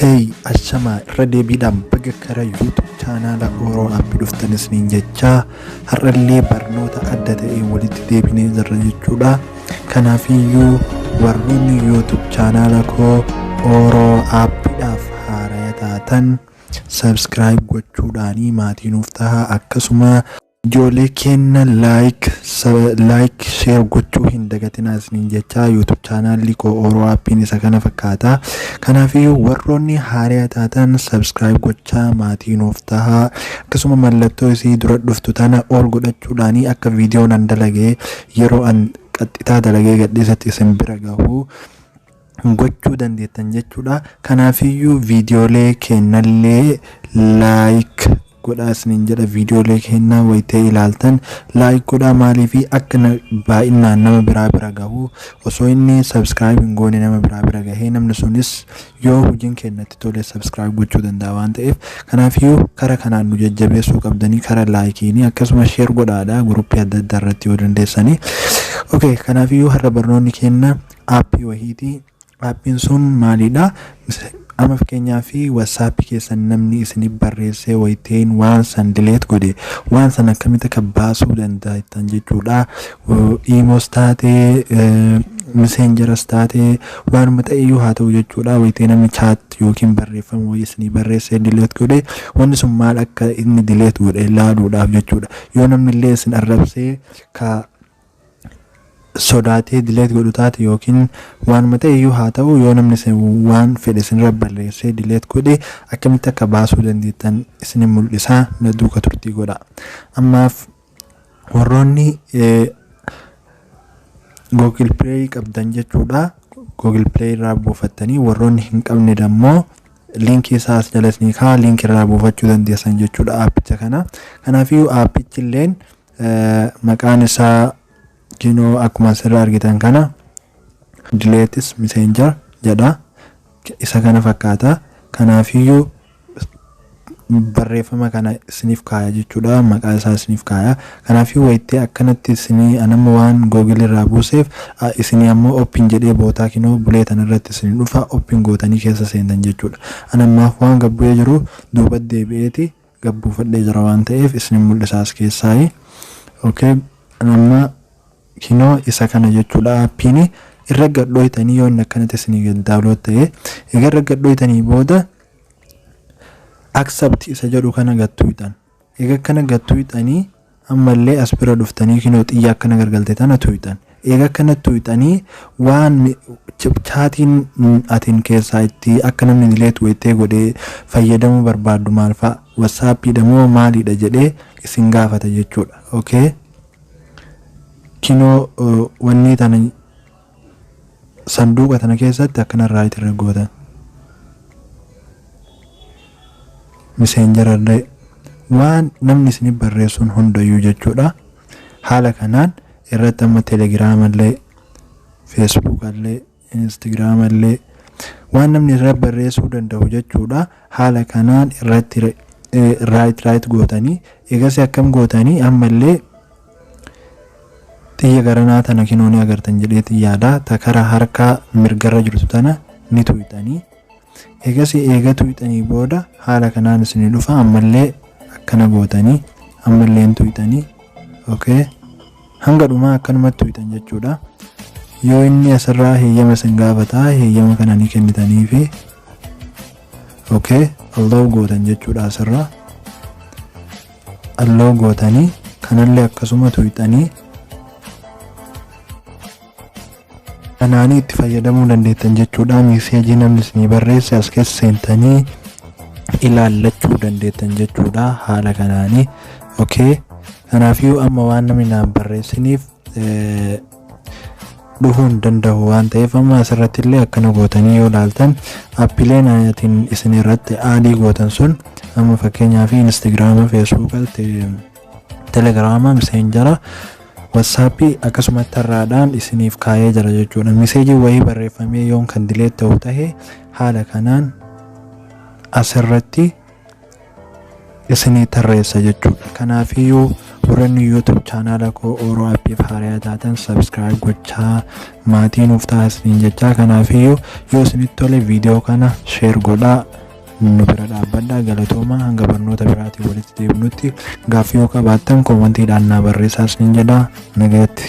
Hey, ashamaa irra deebiidhaan baga kara YouTube chaanaala Oro App dhuftan isiniin jechaa har'allee barnoota adda ta'een walitti deebinee jirra jechuudha. Kanaafiyyuu warroonni YouTube chaanaala koo Oro Appidhaaf haaraya taatan subscribe gochuudhaanii maatii nuuf tahaa akkasuma Ijoollee keenna like like share gochuu hin dagatinaa isiniin jechaa YouTube chaanaalli koo Oro Appiin isa kana fakkaata. Kanaafiyyuu warroonni haariyaa taatan subscribe gochaa maatii nuuf tahaa. Akkasuma mallattoo isii dura dhuftu tana ol godhachuudhaan akka viidiyoo nan dalagee yeroo an qaxxitaa dalagee gadhiisatti isin bira gahu. gochuu dandeettan jechuudha. Kanaafiyyuu viidiyoolee keennallee laayik godhaa isiniin jedha. Viidiyoolee keennaa wayitee ilaaltan laayik godhaa maaliifi akka na- baay'inaan nama biraa bira gahu osoo inni sabskiraayib hin goone nama biraa bira gahee namni sunis yoo hojiin keennatti tole sabskiraayib gochuu danda'a waan ta'eef kanaafiyyuu kara kanaan nu jajjabeessuu qabdanii kara laayikiini akkasumas sheer godhaadha guruppii adda addaa irratti yoo dandeessanii. Okay, kanaafiyyuu har'a barnoonni keenna aappii wahiiti. Aappiin sun maalidha? Amma fakkeenyaaf WhatsApp keessan namni isinif barreessee wayitayin waan san delete godhe waan san akkamitti akka baasuu dandaa'ittan jechuudha. Iimoos taate miseenjaras taate waanuma ta'eyyuu haa ta'u jechuudha. Wayitayi namni chaat yookiin barreeffama wayii isinii barreessee delete godhe wanni sun maal akka inni delete godhe laaluudhaaf jechuudha. Yoo namni illee isin arrabsee ka sodaatee delete godhu taate yookiin waanuma ta'e iyyuu haa ta'u yoo namni isin waan fedhe isinirra barreessee delete godhe akkamitti akka baasuu dandeettan isinin mul'isa na duuka turtii godha ammaaf warroonni google play qabdan jechuudha google play irraa buufattanii warroonni hin qabne dammoo liinkii isaa as jala isinii kaa liinkii irraa buufachuu dandeessan jechuudha aappicha kana kanaafiyyuu aappichi illeen maqaan isaa kinoo akkuma asirra argitan kana dileetis miseenjar jedha isa kana fakkaata kanaafiyyuu barreeffama kana isiniif kaaya jechuudha maqaa isaa isiniif kaaya kanaafii wayittee akkanatti isinii anamma waan googil irraa buuseef isinii ammoo oppin jedhee bootaa kinoo bulee tanarratti isin dhufa oppin gootanii keessa seentan jechuudha anammaaf waan gabbu'ee jiru duuba deebi'eeti gad buufadhee jira waan ta'eef isinin mul'isa as keessaayi ok amma kinoo isa kana jechuudha appiini irra gad dhooytanii yoo inni akkanatti isinii gad daawlood ta'e egaa irra gad dhooytanii booda accept isa jedhu kana gad tuuyxan egaa akkana gad tuuyxanii Ammallee as bira dhuftanii kinoo xiyya akka na gargalte tana tuuyxan. Eega akkana tuuyxanii waan chaatiin atin keessaa itti akka namni delete waytee godhee fayyadamuu barbaaddu maal fa'a? Whatsapp dha moo maali dha jedhee isin gaafata jechuudha. Ok kinoo wannii tana. Sanduuqa tana keessatti akkana raayit irra goota. Miseenjara illee waan namni isinif barreessuun hundayyuu jechuudha. Haala kanaan irratti amma telegiraama illee, feesbuuka illee, instagiraama illee waan namni irra barreessuu danda'u jechuudha. Haala kanaan irratti raayit raayit gootanii eegasii akkam gootanii ammallee Xiyya garanaa tana kinoo ni agartan jedheetiin yaada. Ta kara harka mirgarra jirtu tana ni tuyxanii. Eegasii eega tuyxanii booda haala kanaan isinii dhufa ammallee akkana gootanii ammallee hin tuyxanii. Okay. Hanga dhumaa akkanumatti tuyxan jechuudha. Yoo inni asirraa heeyyama isin gaafata heeyyama kana ni kennitanii fi okay allow gootan jechuudha asirraa. Unlock gootanii kanallee akkasuma tuyxanii kanaanii itti fayyadamuu dandeettan jechuudha miiseejii namni isinii barreesse as keessa seentanii ilaallachuu dandeettan jechuudha haala kanaanii okay kanaafiyyuu amma waan namni naan barreessiniif eh, dhufuu hin danda'u waan ta'eef amma asirratti illee akkana gootanii yoo ilaaltan appileen atin isin irratti aadii gootan sun amma fakkeenyaaf instagiraama feesbuuka telegiraama miseenjara watsaappii akkasuma tarraadhaan isiniif kaayee jira jechuudha miseejii wayii barreeffamee yoon kan dileet ta'u tahe haala kanaan asirratti isinii tarreessa jechuudha kanaafiyyuu warranni youtube chaanaala koo ooroo appiif haarayaa taatan sabskiraayib gochaa maatii nuuf taasisiin jechaa kanaafiyyuu yoo isinitti tole viidiyoo kana sheer godhaa nu bira dhaabbadhaa galatoomaa hanga barnoota biraatiin walitti deebinutti gaaffii yoo qabaattan koomantiidhaan naa barreessaa isiniin jedhaa nagayatti.